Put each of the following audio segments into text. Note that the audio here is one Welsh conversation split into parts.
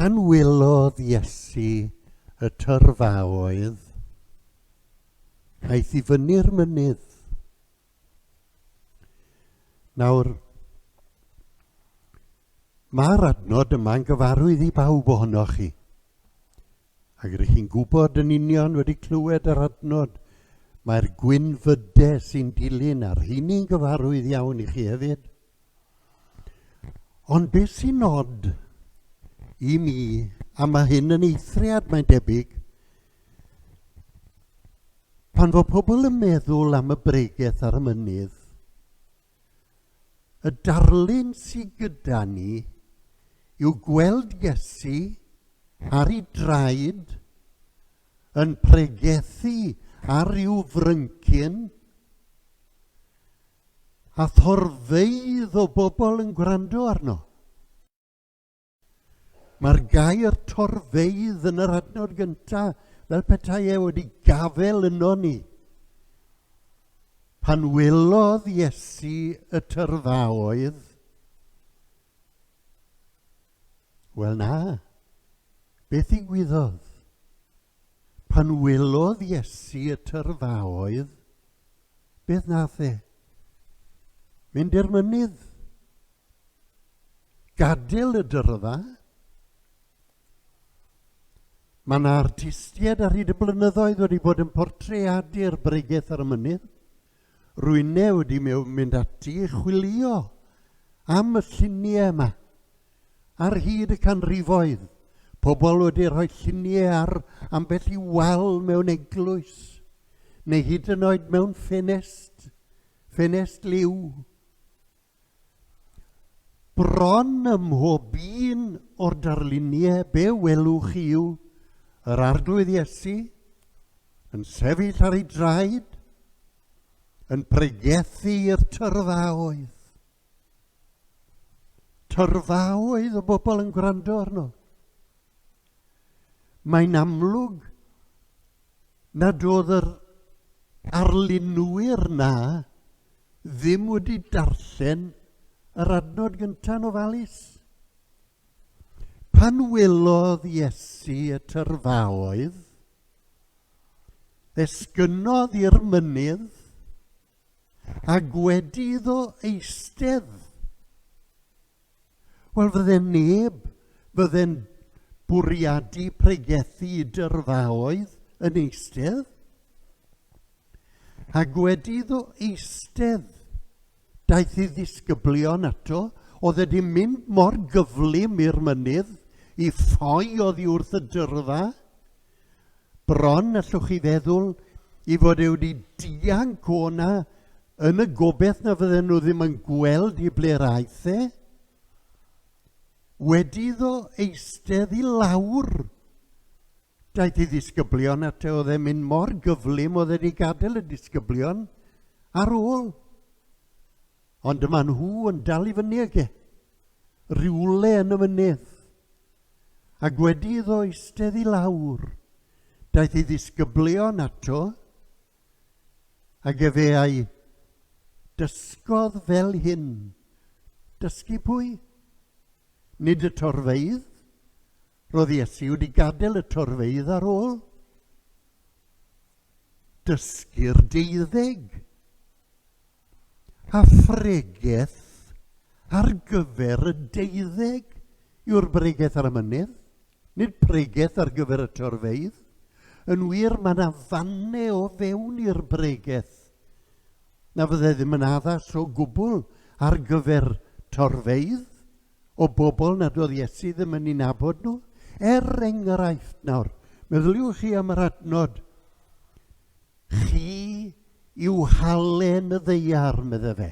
Pan wylodd Iesu y tyrfaoedd, aeth i fyny'r mynydd. Nawr, Mae'r adnod yma'n gyfarwydd i bawb ohonoch chi. Ac rŷch chi'n gwybod yn union, wedi clywed yr adnod, mae'r gwynfydedd sy'n dilyn a'r rheiny'n gyfarwydd iawn i chi hefyd. Ond beth sy'n nod i mi, a mae hyn yn eithriad mae'n debyg, pan fo pobl yn meddwl am y bregeth ar y mynydd, Y darlun sy gyda ni yw gweld Iesu ar ei draed yn pregethu ar ryw fryncyn a thorfeydd o bobl yn gwrando arno. Mae'r gair torfeydd yn yr adnod gyntaf, fel petai e wedi gafel yno ni. Pan welodd Iesu y tyrfaoedd, wel na, beth ddigwyddodd? Pan welodd Iesu y tyrfaoedd, beth nath e? Mynd i'r mynydd. Gadael y dyrfa. Mae yna artistiaid ar hyd y blynyddoedd wedi bod yn portreadu'r bregeth ar y mynydd. Rwy'n newid i mewn mynd ati i chwilio am y lluniau yma. Ar hyd y canrifoedd, pobl wedi rhoi lluniau ar ambell i wal mewn eglwys, neu hyd yn oed mewn ffenest, ffenest liw. Bron ym mhob un o'r darluniau be welwch chi yw yr Arglwydd Iesu yn sefyll ar ei draed, yn pregethu i'r tyrfaoedd. Tyrfaoedd o bobl yn gwrando arno. Mae'n amlwg nad oedd yr arlunwyr 'na ddim wedi darllen yr adnod gynta' yn ofalus. Pan welodd Iesu y tyrfaoedd, esgynnodd i'r mynydd, a gwedi iddo eistedd, Wel, fydde neb, fydde'n bwriadu pregethu i dyrfaoedd yn eistedd. Ac wedi iddo eistedd, daeth ei ddisgyblion ato, oedd wedi mynd mor gyflym i'r mynydd i ffoi oddi wrth y dyrfa, Bron allwch chi feddwl i fod e wedi dianc o'na yn y gobeth na fydden nhw ddim yn gweld i ble'r aeth e. Wedi iddo eistedd i lawr, daeth i ddisgyblion at e oedd e'n mynd mor gyflym oedd e wedi gadael y disgyblion ar ôl. Ond maen nhw yn dal i fyny ag e, rhywle yn y mynydd. Ac wedi iddo eistedd i lawr, daeth ei ddisgyblion ato, ac efe a'i dysgodd fel hyn. Dysgu pwy? Nid y torfeidd. Roedd Iesu wedi gadael y torfeidd ar ôl. Dysgu'r deuddeg. a phregeth ar gyfer y deuddeg yw'r bregeth ar y mynydd, nid pregeth ar gyfer y torfeydd. Yn wir, mae yna fanne o fewn i'r bregeth na fydde ddim yn addas o gwbl ar gyfer torfeydd o bobl nad oedd Iesu ddim yn ei nabod nhw. Er enghraifft nawr, meddyliwch chi am yr adnod Chi yw halen y ddaear, medde fe.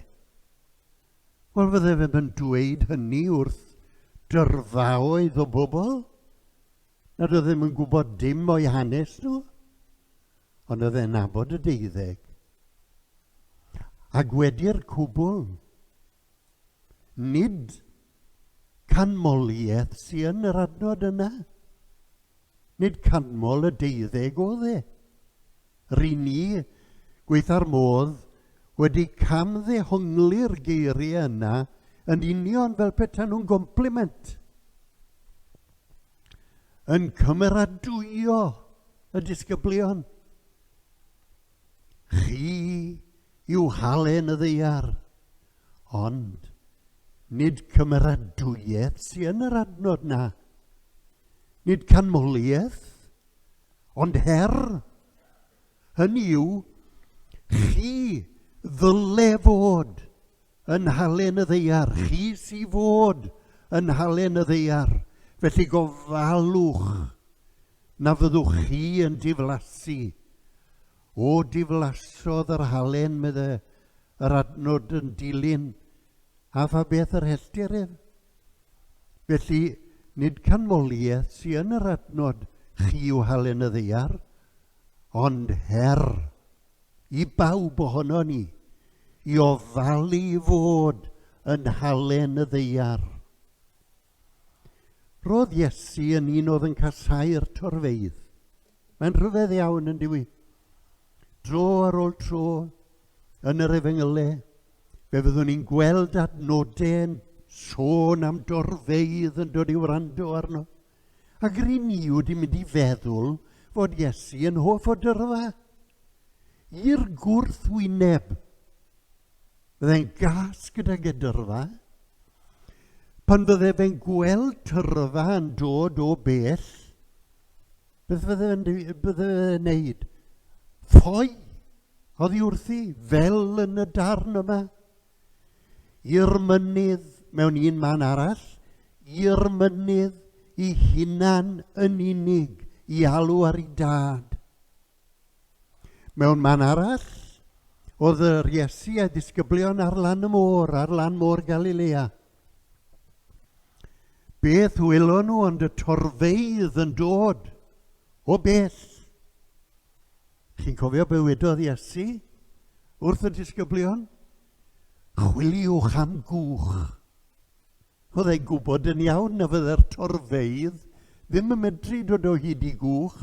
Wel, fydde fe yn dweud hynny wrth dyrfaoedd o bobl nad oedd ddim yn gwybod dim o'i hanes nhw, ond oedd e'n nabod y deuddeg. Ac wedi'r cwbl, Nid canmoliaeth sy yn yr adnod yna. Nid canmol y deuddeg oedd e. Ry ni, gweitha'r modd, wedi camddehongli'r geiriau yna yn union fel petaen nhw'n gompliment. Yn cymeradwyo y disgyblion. Chi yw halen y ddaear, ond nid cymeradwyaeth sy'n yn yr adnod na. Nid canmoliaeth, ond her. Hynny yw, chi ddyle fod yn halen y ddeiar, chi sy fod yn halen y ddeiar, felly gofalwch na fyddwch chi yn diflasu. O, diflasodd yr halen, medde, yr adnod yn dilyn, a pha beth yr helltir ef? Felly, nid canmoliaeth sy yn yr adnod chi yw halen y ddeiar, ond her i bawb ohono ni i ofalu i fod yn halen y ddeiar. Roedd Iesu yn un oedd yn casáu'r torfeydd. Mae'n rhyfedd iawn yn diwy. Dro ar ôl tro, yn yr efengylau, fe fyddwn ni'n gweld adnodau yn sôn am dorfeydd yn dod i wrando arno. Ac yr un ni wedi mynd i feddwl fod Iesu yn hoff o dyrfa. I'r gwrthwyneb, byddai'n gas gydag edyrfa, Pan fydde fe'n gweld tyrfa yn dod o bell, beth fydde fe'n bydde wneud? Ffoi oddi wrthi, fel yn y darn yma. I'r mynydd mewn un man arall, i'r mynydd i hunan yn unig i alw ar ei dad. Mewn man arall, oedd yr Iesu a disgyblion ar lan y môr, ar lan môr Galilea. Beth wylo nhw ond y torfeidd yn dod o bell. Chi'n cofio bywydodd Iesu wrth y disgyblion? Chwiliwch am gwch. Fyddai gwybod yn iawn na fydde'r torfeydd ddim yn medru dod o hyd i gwch,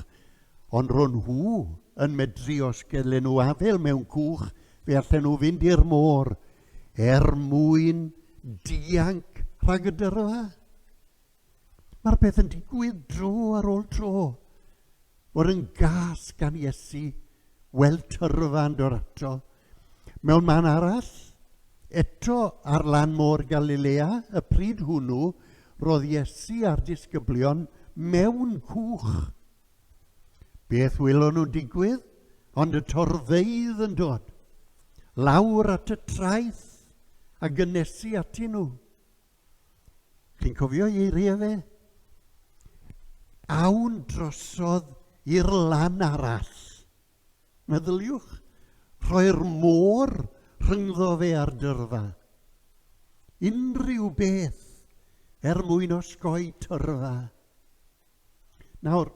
ond ro nhw yn medru os gellen nhw afel mewn cwch fe allen nhw fynd i'r môr er mwyn dianc rhag y dyrfa. Mae'r peth yn digwydd dro ar ôl tro. fod yn gas gan Iesu, weld tyrfa yn dod ato. Mewn man arall, eto ar lan môr Galilea, y pryd hwnnw, roedd Iesu a'r disgyblion mewn cwch. Beth wylon nhw'n digwydd? Ond y torfeydd yn dod. Lawr at y traeth a gynesu ati nhw. Chi'n cofio i eiriau fe? Awn drosodd i'r lan arall. Meddyliwch, rhoi'r môr rhyngddo fe a'r dyrfa. Unrhyw beth er mwyn osgoi tyrfa. Nawr,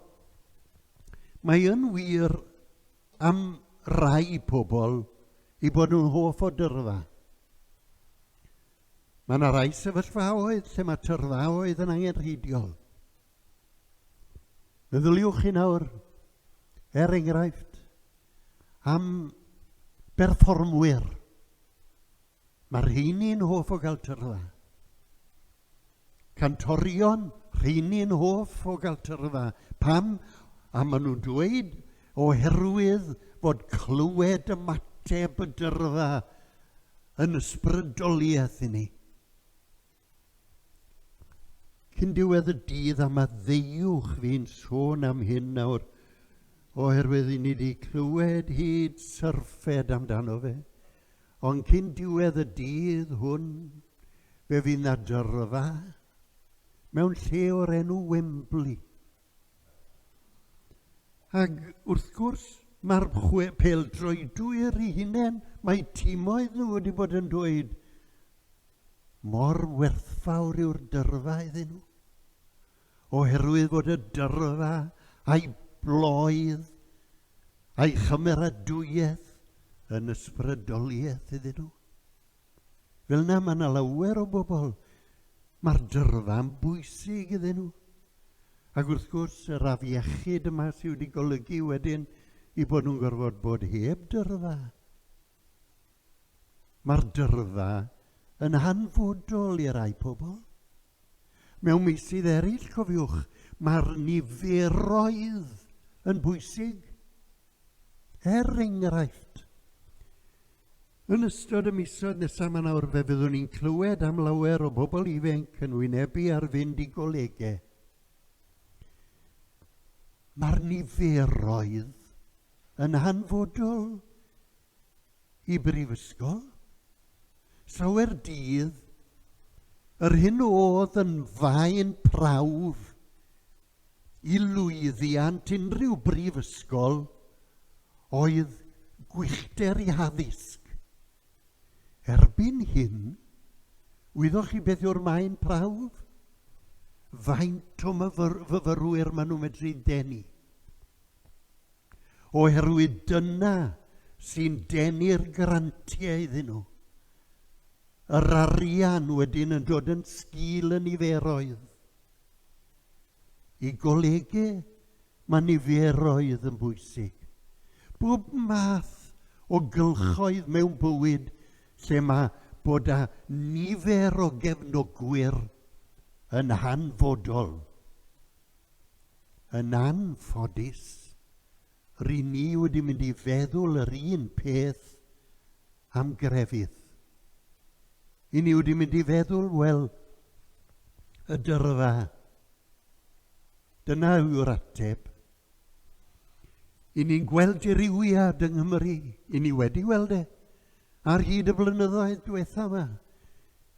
mae yn wir am rai pobl i bod nhw'n hoff o dyrfa. Mae yna rai sefyllfaoedd lle mae tyrfaoedd yn angenrheidiol. Meddyliwch chi nawr, er enghraifft, am berfformwyr. Mae rheini'n hoff o gael tyrfa. cantorion, rheini yn hoff o gael tyrfa. Pam? A maen nhw'n dweud oherwydd fod clywed ymateb y dyrfa yn ysbrydoliaeth i ni. Cyn diwedd y dydd a maddeuwch fi'n sôn am hyn nawr, oherwydd i ni wedi clywed hyd syrffed amdano fe. Ond cyn diwedd y dydd hwn, fe fydd 'na dyrfa mewn lle o'r enw Wembley. Ac wrth gwrs, mae'r pêl-droedwyr i hunain, mae timoedd nhw wedi bod yn dweud mor werthfawr yw'r dyrfa iddyn nhw. Oherwydd bod y dyrfa a'i bloedd A'i chymeradwyaeth yn ysbrydoliaeth iddyn nhw. Fel na mae na lawer o bobl, mae'r dyrfa'n bwysig iddyn nhw. Ac wrth gwrs, yr afiechyd yma sydd wedi golygu wedyn i bod nhw'n gorfod bod heb dyrfa. Mae'r dyrfa yn hanfodol i rai pobl. Mewn meysydd eraill, cofiwch, mae'r niferoedd yn bwysig. Er enghraifft, yn ystod y misoedd nesaf yma nawr fe fyddwn ni'n clywed am lawer o bobl ifanc yn wynebu ar fynd i golegau. Mae'r niferoedd yn hanfodol i brifysgol llawer dydd yr hyn oedd yn faen prawf i lwyddiant unrhyw brifysgol oedd gwyllter i haddysg. Erbyn hyn, wyddoch chi beth yw'r maen prawf? Faint o fyfyrwyr maen nhw'n medru denu? Oherwydd dyna sy'n denu'r grantiau iddyn nhw. Yr arian wedyn yn dod yn sgil y niferoedd. I golygu mae niferoedd yn bwysig. Bob math o gylchoedd mewn bywyd lle mae bod â nifer o gefnogwyr yn hanfodol. Yn anffodus, Ry'n ni wedi mynd i feddwl yr un peth am grefydd. Ry'n ni wedi mynd i feddwl, wel, y dyrfa. Dyna yw'r ateb. Ry'n ni'n gweld dirywiad yng Nghymru, ry'n ni wedi gweld e, ar hyd y blynyddoedd diwetha yma.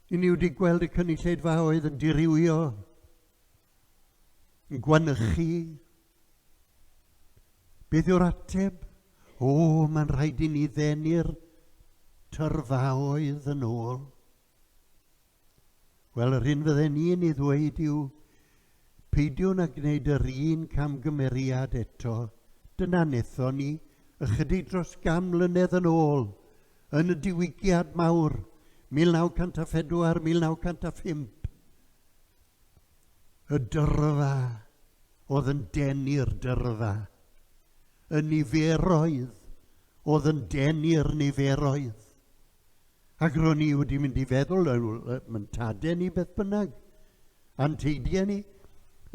Ry'n ni wedi gweld y cynulleidfaoedd yn dirywio, Yn gwanychu chi? Beth yw'r ateb? O, mae'n rhaid i ni ddenu'r tyrfaoedd yn ôl. Wel, yr hyn fydden ni'n ei ddweud yw, peidiwn â gwneud yr un camgymeriad eto. Dyna netho ni, ychydig dros gam mlynedd yn ôl, yn y diwygiad mawr, 1904, 1905. Y dyrfa oedd yn denu'r dyrfa. Y niferoedd oedd yn denu'r niferoedd. Ac ro'n i wedi mynd i feddwl, mae'n tade ni beth bynnag, a'n teidiau ni,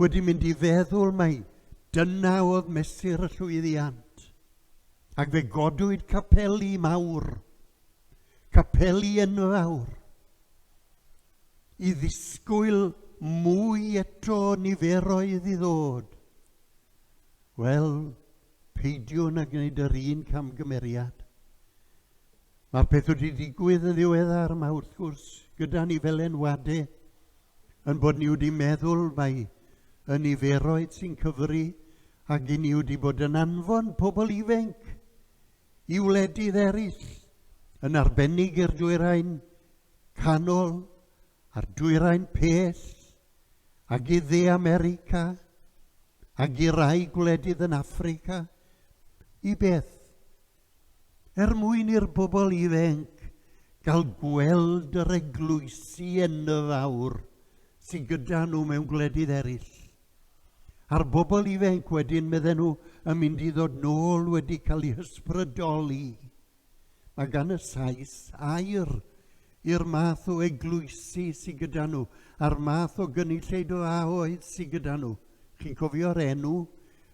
wedi mynd i feddwl mai dyna oedd mesur y llwyddiant. Ac fe godwyd capeli mawr Capeli enfawr. I ddisgwyl mwy eto o niferoedd i ddod. Wel, peidiwn â gwneud yr un camgymeriad. Mae'r peth wedi digwydd yn ddiweddar yma wrth gwrs gyda ni fel enwadau yn bod ni wedi meddwl mae y niferoedd sy'n cyfri ac i ni wedi bod yn anfon pobl ifanc i wledydd eraill, yn arbennig i'r Dwyrain Canol a'r Dwyrain Pell, ag i Dde America, ag i rai gwledydd yn Affrica, i beth? Er mwyn i'r bobl ifanc gael gweld yr eglwysi enfawr sydd gyda nhw mewn gwledydd eraill. A'r bobl ifainc wedyn, medden nhw, yn mynd i ddod nôl wedi cael eu hysbrydoli. Mae gan y Sais air i'r math o eglwysi sydd gyda nhw, a'r math o gynulleid o a oedd sydd gyda nhw. Chi'n cofio'r enw?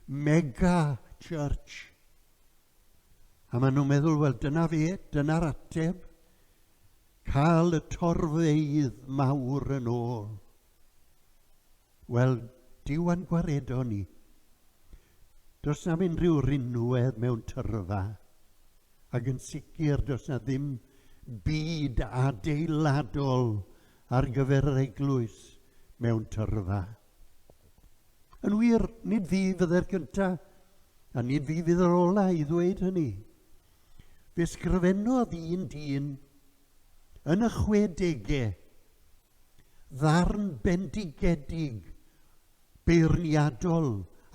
Mega Church. A maen nhw'n meddwl, wel, dyna fe, dyna'r ateb. Cael y torfeydd mawr yn ôl. Wel, Duw a'n gwaredo ni. Does na'm unrhyw rinwedd mewn tyrfa, ac yn sicr does na ddim byd adeiladol ar gyfer yr eglwys mewn tyrfa. Yn wir, nid fi fydde'r cyntaf, a nid fi fydd yr ola i ddweud hynny. Fe sgrifennodd un dyn yn y chwedegau Ddarn bendigedig, beirniadol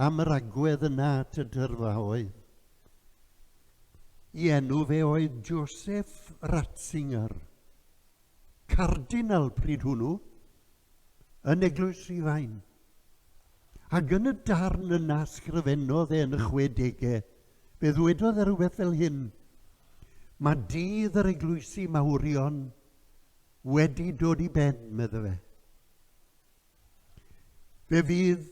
am yr agwedd yna at y dyrfa oedd. I enw fe oedd Joseph Ratzinger, cardinal pryd hwnnw, yn Eglwys Rhifain. Ac yn y darn yna sgrifennodd e yn y 60au, fe ddwedodd e rhywbeth fel hyn, Mae dydd yr eglwysi mawrion wedi dod i ben, medda fe. Fe fydd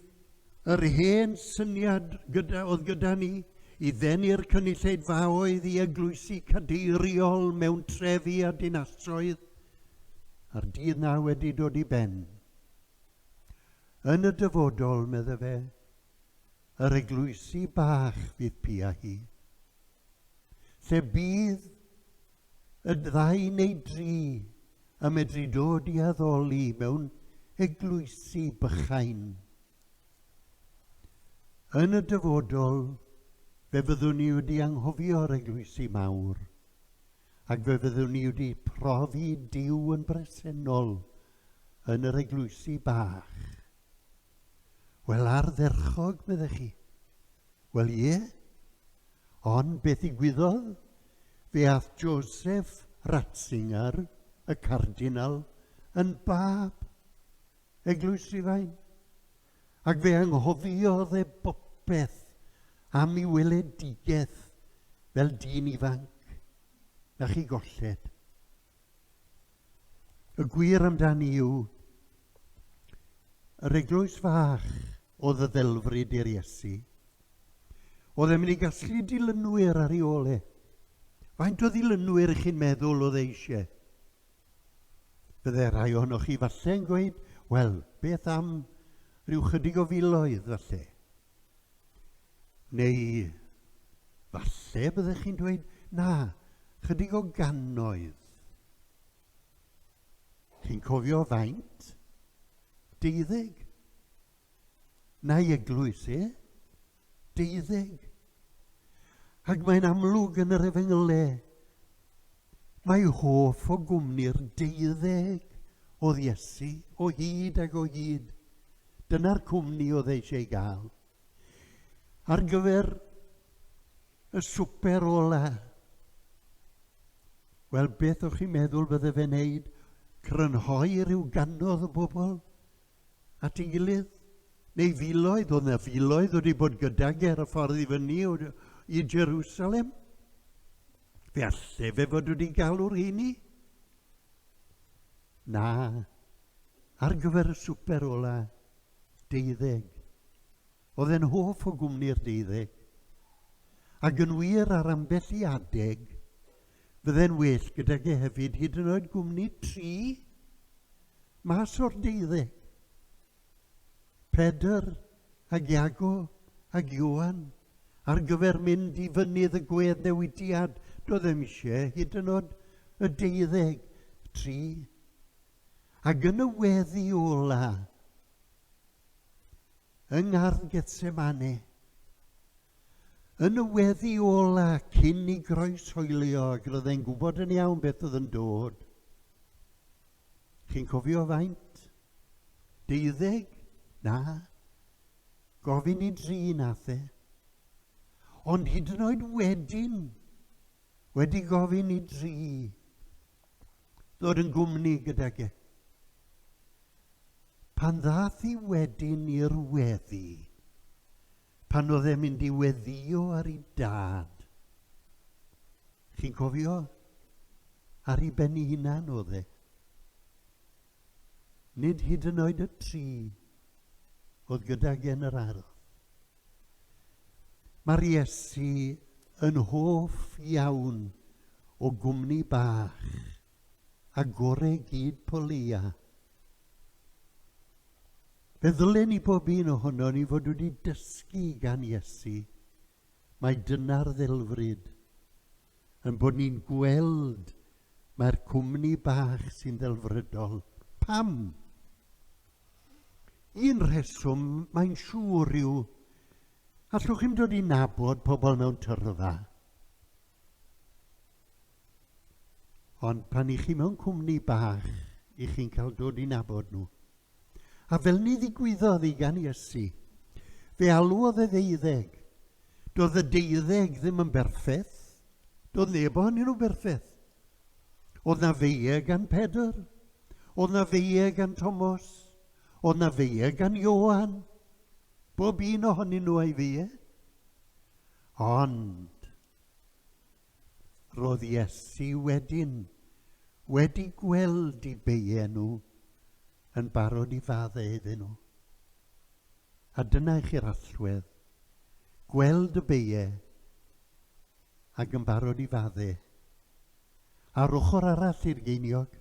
yr hen syniad gyda, oedd gyda ni i ddenu'r cynulleidfaoedd i eglwysi cadeiriol mewn trefi a dinasoedd a'r dydd na wedi dod i ben. Yn y dyfodol, medda fe, yr eglwysi bach fydd pia hi, lle bydd Y ddau neu dri y medru dod i addoli mewn eglwysi bychain. Yn y dyfodol, fe fyddwn ni wedi anghofio'r eglwysi mawr, ac fe fyddwn ni wedi profi Duw yn bresennol yn yr eglwysi bach. Wel, ardderchog, meddech chi. Wel, ie. Ond beth ddigwyddodd? Fe ath Joseph Ratzinger, y cardinal, yn bab, Eglwys Rhufain, ac fe anghofiodd e bopeth am i weledigaeth fel dyn ifanc, na chi golled. Y gwir amdani yw, yr eglwys fach oedd y ddelfryd i'r Iesu. Oedd e'n mynd i gasglu dilynwyr ar ei ôl e. Faint o ddilynwyr ych chi'n meddwl oedd e eisiau? Fydde rhai ohonoch chi falle yn gweud, wel, beth am rhyw chydig o filoedd falle? Neu falle byddech chi'n dweud, na, chydig o gannoedd. Chi'n cofio faint? Deuddeg? Na i eglwys, e? Deuddeg? Ac mae'n amlwg yn yr efengylau. Mae hoff o gwmni'r deuddeg oedd Iesu o hyd ac o hyd. Dyna'r cwmni oedd eisiau gael. ar gyfer y swper ola. Wel, beth o'ch chi'n meddwl bydde fe'n neud? Crynhoi rhyw ganodd o bobl at ei gilydd? Neu filoedd, oedd na filoedd wedi bod gydag e ar y ffordd i fyny i Jerusalem? Fe alle fe fod wedi galw'r heini? Na, ar gyfer y swper ola, deuddeg. Oedd e'n hoff o gwmni'r deuddeg. Ac yn wir ar ambell i adeg, fydde'n well gydag e hefyd hyd yn oed gwmni tri mas o'r deuddeg. Pedr ac Iago ac Iwan ar gyfer mynd i fynydd y gwedd newidiad, doedd eisiau hyd yn oed y deuddeg tri. Ac yn y weddi ola, yng Ngardd Getsemane, yn y weddi ola cyn i groes hoelio ac roedd e'n gwybod yn iawn beth oedd yn dod. Chi'n cofio faint? Deuddeg? Na. Gofyn i dri nath e. Ond hyd yn oed wedyn, wedi gofyn i dri, ddod yn gwmni gydag e. Pan ddath i wedyn i'r weddi, pan oedd e'n mynd i weddio ar ei dad, chi'n cofio, ar ei ben ei hunan oedd e. Nid hyd yn oed y tri oedd gydag e yn yr ardd. Mae'r Iesu yn hoff iawn o gwmni bach, a gore gyd Polia. Fe ddylen ni bob un ohono ni fod wedi dysgu gan Iesu, mae dyna'r ddelfryd, yn bod ni'n gweld mae'r cwmni bach sy'n ddelfrydol. Pam? Un rheswm, mae'n siŵr, yw allwch chi'm dod i nabod pobl mewn tyrfa. Ond pan i chi mewn cwmni bach, i chi'n cael dod i nabod nhw. A fel ni ddigwyddodd i gan Iesu, fe alwodd y ddeuddeg. Doedd y deuddeg ddim yn berffeth. Doedd neb ohonyn nhw'n berffeth. Oedd 'na feie gan Pedr? Oedd 'na feie gan Tomos? Oedd 'na feie gan Ioan? Bob un ohonyn nhw a'i feie. Ond roedd Iesu wedyn wedi gweld i beie nhw yn barod i fadde iddyn nhw. A dyna i chi'r allwedd, gweld y beie ac yn barod i fadde. Ar ochr arall i'r geiniog,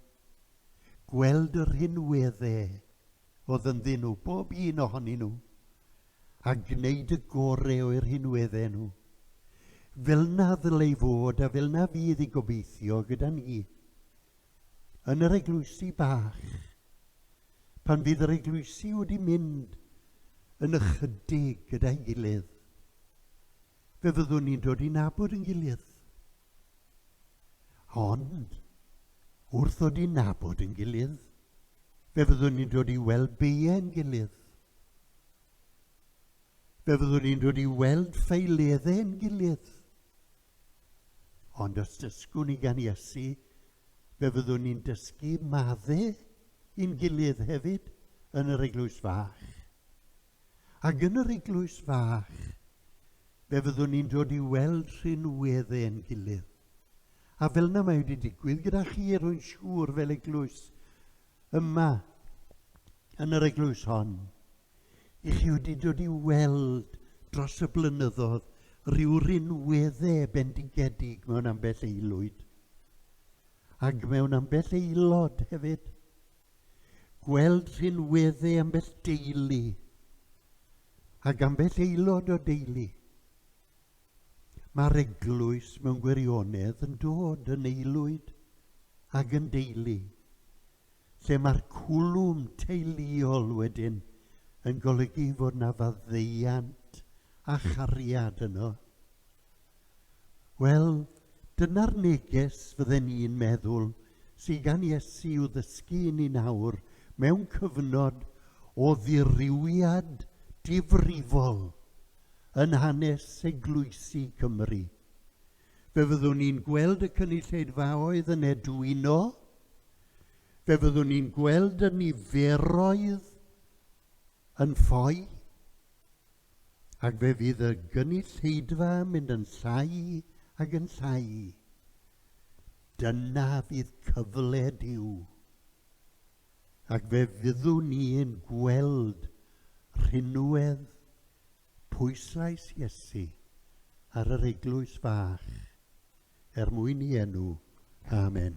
gweld yr hyn wedde oedd yn ddyn nhw, bob un ohonyn nhw, a gwneud y gore oer hyn wedde nhw. Fel na ddylai fod a fel na fydd i gobeithio gyda ni. Yn yr eglwysi bach, pan fydd yr eglwysi wedi mynd yn ychydig gyda'i gilydd, Fe fyddwn ni'n dod i nabod yn gilydd. Ond, wrth ddod i nabod yn gilydd, fe fyddwn ni'n dod i weld beiau'n gilydd. Fe fyddwn ni'n dod i weld ffeileddau yn gilydd. Ond os dysgwn ni gan Iesu, fe fyddwn ni'n dysgu maddau i'n gilydd hefyd yn yr eglwys fach. Ac yn yr eglwys fach, fe fyddwn ni'n dod i weld rhinwedd ein gilydd. A fel na mae wedi digwydd gyda chi, rwy'n siŵr, fel eglwys, yma, yn yr eglwys hon, i chi wedi dod i weld dros y blynyddoedd rhyw rinweddau bendigedig mewn ambell eilwyd ac mewn ambell aelod hefyd. gweld rhinwedde ambell deulu ac ambell aelod o deulu. Mae'r eglwys mewn gwirionedd yn dod yn aelwyd ac yn deulu, lle mae'r cwlwm teuluol wedyn yn golygu fod na faddeuant a chariad yno. Wel, dyna'r neges fydden i'n meddwl sy gan Iesu i'w ddysgu i ni nawr mewn cyfnod o ddirywiad difrifol yn hanes eglwysi Cymru. Fe fyddwn ni'n gweld y cynulleidfaoedd yn edwino, fe fyddwn ni'n gweld y niferoedd yn ffoi, ac fe fydd y gynulleidfa yn mynd yn llai ac yn llai. Dyna fydd cyfle Duw. Ac fe fyddwn ni'n gweld rhinwedd pwyslais Iesu ar yr eglwys fach er mwyn i enw. Amen.